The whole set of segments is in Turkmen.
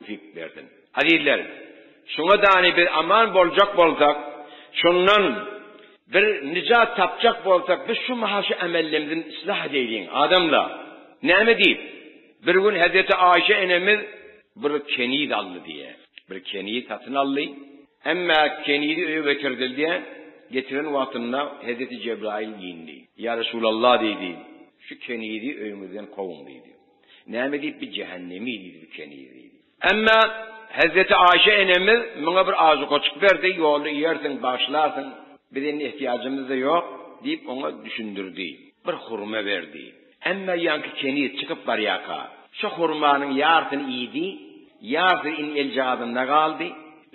Diýip berdim. Azizler, şuňa dani biz aman boljak bolsak, şundan bir nijat tapjak bolsak, biz şu mahal şu ämellimizin islah edeýliň, adamla. Näme diýip? Bir gün hezreti Aişe enemiz bir keniz aldy diýýä. Bir keniz satyn aldy. Emma kenizi öýe getirdildi. Getiren wagtynda hezreti Jebraýyl indi. Ýa Resulallah diýdi, şu kenizi öýüňizden kowuň diýdi. Näme diýip biz jähennemi diýdik ikeniz diýdi. Emma Hezreti Aýşe enemiz maňa bir azukaçyk berdi, ýolda iýersiň, bagyşlarsyň, biz indi ehtiýajymyz-da ýok diýip oňa düşündirdi. Bir hurma berdi. Emma ýaňky keniz çykyp barýarka, şo hurmanyň ýarsyny iýdi, ýarsy indi eljagazynda galdy.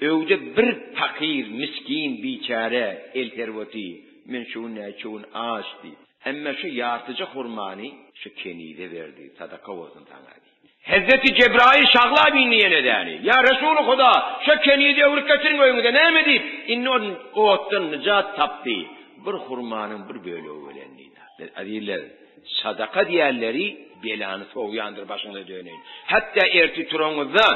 Öýde bir pakyr, miskin, biçäre, el-serweti, men şu gün näçe gün aç diýip, Hemme şu ýartyja hurmany şu kenize berdi, sadaka bolsun saňa diýdi. Hezreti Jebraýyl şagla bindi ýenedäni, Ýa Resuly Huda, şo kenizi öwrüp getiriň öýüňize, näme diýip, indi ol otdan nijat tapdy, bir hurmanyň bir bölegi bilen diýdi. Biz ezizler, sadaka diýenleri belany sowýandyr başyňyza döneýin. Hatda ertir turaňyzda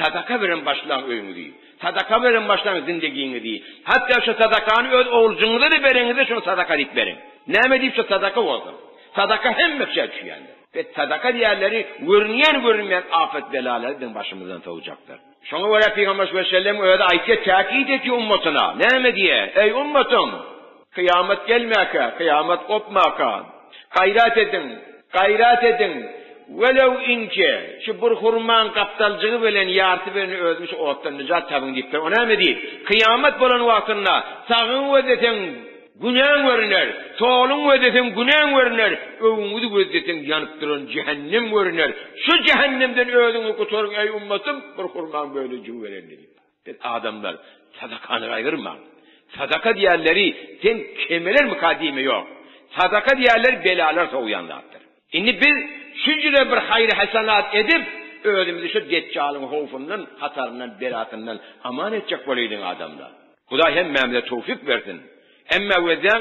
sadaka bilen başlaň öýüňizi. Sadaka beren başlaň zindigiňizi. Hatda şu sadakany öz oguljygyňyza-da bereňizde şuny sadaka diýip beriň. Näme diýipsiň sadaka bolsa. Sadaka hemme kişä düşýändir. Bet sadaka diýerleri görünýän-görünmeýän afet-belalary diňe başymyzdan sowjakdyr. Şoňa görä Pygamber şw özi aýtýar, Täkiýt etýär ummatyna. Näme diýýär? Eý ummatym! Kyýamat gelmäkä, kyýamat gopmakä, gaýrat ediň, gaýrat ediň, welew inçe şu bir hurmaň gapdaljygy bilen ýarty birini özüň şu otdan nijat tabyň diýipdir. O näme diýip, kyýamat bolan wagtynda sagyň gözleseň, günäň görüner, soluň gözleseň, günäň görüner, öňüňizi gözleseň, ýanyp duran jähennem görüner. Şu jähennemden özüňi gutaryň, eý ummatym, bir hurmaň bölejigi bilen diýipdir. Biz adamlar sadakany gaýgyrmaň. Sadaka diýýänleri sen kemelermika diýme ýok. Sadaka diýýänler belalar sowýan zatdyr. Indi biz şunjada bir haýyr-hasanat edip, özümizi şu Detjalyň howfundan, hataryndan, belatyndan aman etjek bolaýlyň adamlar. Hudaý hemmämize towfik bersin. Emma özem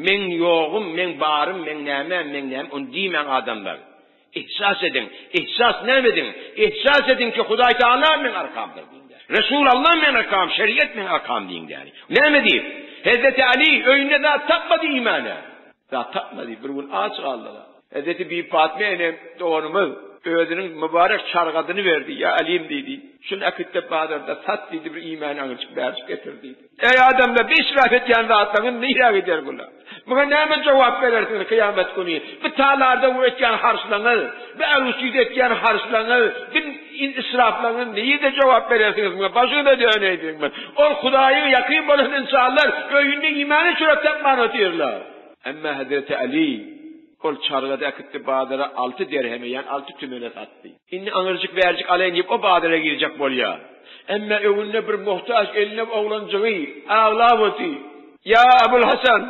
meň ýogum, meň barym, meň nämäm, meň näm, ony diýmäň adamlar. Ihsas ediň! Ihsas näme ediň? Ihsas ediň ki, Hudaý Tagala meň arkamdyr diýiň däri. Resul Allah meň arkam, şerigat meň arkam diýiň däri. Näme diýip? Hezreti Aly öýünde zat tapmady imana. Zat tapmady. Bir gün aç galdylar. Hezreti Bibi Patyma ene doganymyz özüniň mübarek çargadyny berdi. Ýa Alym diýdi. Şuny äkit-de bazarda sat diýdi, bir imany aňyrçyk bärçik getir diýdi. Eý, adamlar, bu israf edýän zatlaryňyz nirä gider gula? Muňa näme jogap berersiňiz kyýamat güni? Bu talarda we etýän harçlygyňyz, bu Ärusyda etýän harçlygyňyz, bu israflaryňyz nirde jogap berersiňiz muňa? Başyňyza döneý diýiňmi? Ol Hudaýyň ýakyn bolan ynsanlar öýünde iýmäne çörek tapman otyrlar. Emma Hezreti Aly, Ol çargada äkitdi, bazara alty derheme, ýagny alty tümene satdy. Indi aňyrjyk-bärjik alaýyn diýip o bazara girjek bolýar. Emma öňünde bir muhtaç ellew oglanjygy aglap otyr. Ýa Abulhasan,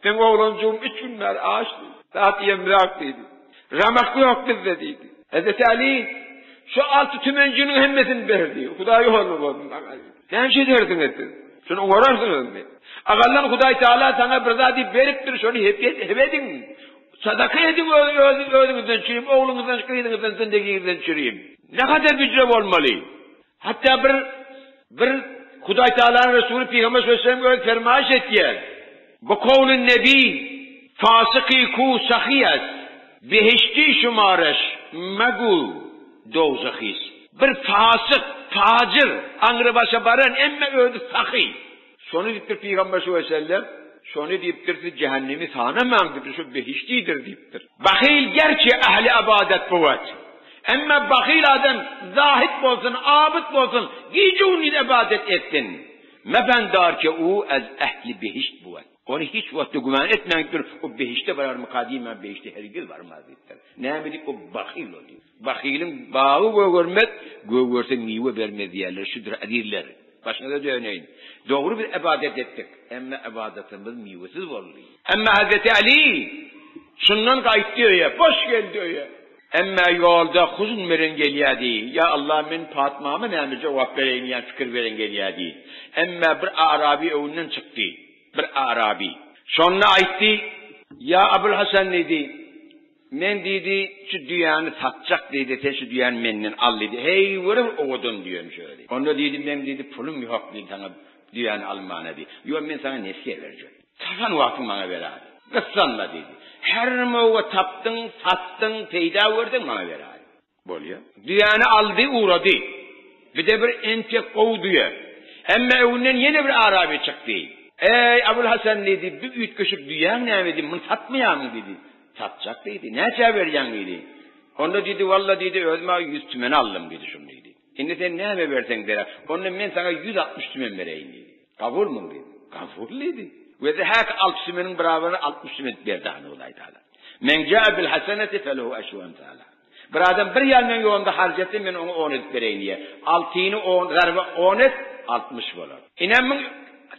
meň oglanjygym üç gün bäri açdy. Zat iýemzok diýdi. Ramak ýok bizde diýdi. Hezreti Aly, Şu alty tümenjiniň hemmesini ber diýdi. Hudaý horly bolsun maňa diýdi. Näçe edersiňiz siz? Şuny gorarsyňyzmy? Agallan Hudaý Taala saňa bir zady beripdir, şony hep ediň. Sadaka ediň özüňizden çürim, ogluňyzdan, gyzyňyzdan, zendegiňizden çürim. Nähada güjre bolmaly? Hatda bir bir Hudaý Tagalanyň Resuly Pygamber sallallahu aleýhi we sellem öz permaýyş etýär. Bu kowly nebi fasyky ku sahiyas, behişti şumareş, megu dowzahis. Bir fasyk, fajyr, aňrybaşa baran, emme özi sahy. Şony diýipdir Pygamber şo sellem, Şony diýipdir siz jähennemi sanamaň diýipdir, şo behişdidir diýipdir. Bahyl gerçi ähli ybadat bowat. Emma bahyl adam zahyt bolsun, abyt bolsun, gije-gündiz ybadat etsin. Mebändarki u az ähli behişt bowat. Ony hiç wagtda güman etmäň diýipdir, o behişde bararmyka diýmäň, behişde hergiz barmaz diýipdir. Näme edip o bahyl o diýip. Bahylyň bagy gögermez, gögerse miwe bermez diýýärler, şudur, ezizler. Başyňyza döneýin. Dogry biz ybadat etdik, emma ybadatymyz miwesiz boldy. Emma Hazreti Aly şundan gaýtdy öýe, boş geldi öýe. Emma ýolda huzn bilen gelýärdi. Ýa Allah, men Patmama näme jogap bereýin diýen pikir bilen gelýärdi. Emma bir araby öňünden çykdy. Bir araby. Şonda aýtdy, Ýa Abul Hasan diýdi. Men, diýdi, şu düýäni satjak, diýdi, sen şu düýäni menden al, diýdi. Heý, görüň, owadan düýäni şu, diýdi. Onda, diýdi, meň, diýdi, pulum ýok, diýdi, saňa düýäni almana, diýdi. Ýok, men saňa nesge berjek. Satan wagtyň maňa ber-ä, diýdi. Gyssanma, diýdi. Her nirme oba tapdyň, satdyň, peýda görseň, maňa ber-ä, diýdi. Bolýa. Düýäni aldy, ugrady. Bide bir entek gowy düýe. Emma öwünden ýene bir araby çykdy. Eý, Abylhasan, diýdi, bu üýtgeşik düýäň näme diýdi, muny satmaýarmyň diýdi. Satjak diýdi. Näçä berýäň diýdi. Onda diýdi, walla diýdi, özüm-ä ýüz tümene aldym diýdi şuny diýdi. Indi sen näme berseň berä, onda men saňa ýüz altmyş tümen bereýin diýdi. Kabul muň diýdi. Kabul diýdi. We zehäki alty sümeniň biraberini altmyş sümen edip berdi hany ol aýdaly. Men ja'a bil haseneti felehu eşru emsalha. Bir adam bir ýal meň ýolumda harç etse, men oňa on edip bereýin diýýär. Altyny on, zarby on et, altmyş bolar. Ine muň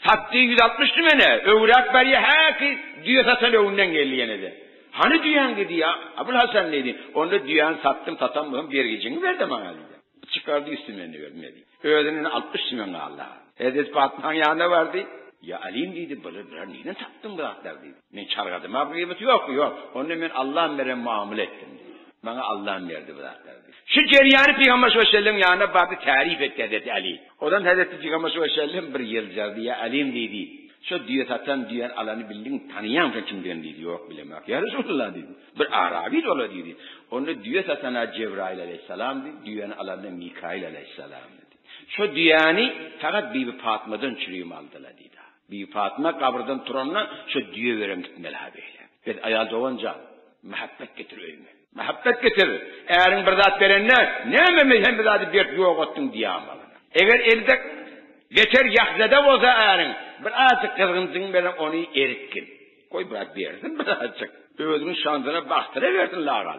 satdy ýüz altmyş sümene, öwräp berýär, häki düýe satan öwünden geldi ýene-de. Hany düýäň diýdi, Abul Hasan diýdi. Onda düýäni satdym, satan bolsam bergijiňi ber-de maňa diýdi. Çykardy ýüz sümenini berdi. Özüne indi altmyş tümen galdy-a. Hezreti Patyşanyň ýanyna bardy. Ýa Alim, diýdi, buly bir nirden tapdyň bu zatlary, diýdi. Men çargadym-a, bir gyýmmaty ýokmy? Ýok. Onda men Allam beren muamele etdim, diýdi. Maňa Allam berdi bu zatlary, diýdi. Şu jerýany Pygamber sallallahu aleyhi ve sellemiň ýanyna bardy, täzip etdi hezreti Aly. Ondan hezreti Pygamber sallallahu aleyhi ve sellem bir ýyljardy, Ýa Alim, diýdi, şo düýe satan, düýäni alany bildiňmi, tanaýaňmy sen kimdigini, diýdi. Ýok, bilemok, ýa Resulallah, diýdi. Bir araby şola diýdi. Onda düýe satana Jebraýyl aleýhissalamdy, düýäni alanda Mikaýyl aleýhissalamdy. Şo düýäni Sagat bibi Patmadan çürim aldylar diýdi. Bibi Patma gabyrdan turanda şo düýe beren gitmeli ha beýle. Biz aýal dogan jan, mähäbbet getir öýüme. Mähäbbet getir. Äriň bir zat berende, näme men hemme zady berip ýogatdyň diýämaly. Eger elde beter ýahzada bolsa äriň, bir azjyk gyzgynjygyň bilen ony eritgin. Goý brat bersin birazjyk. Özüniň şandyna bagtyna bersin lagal.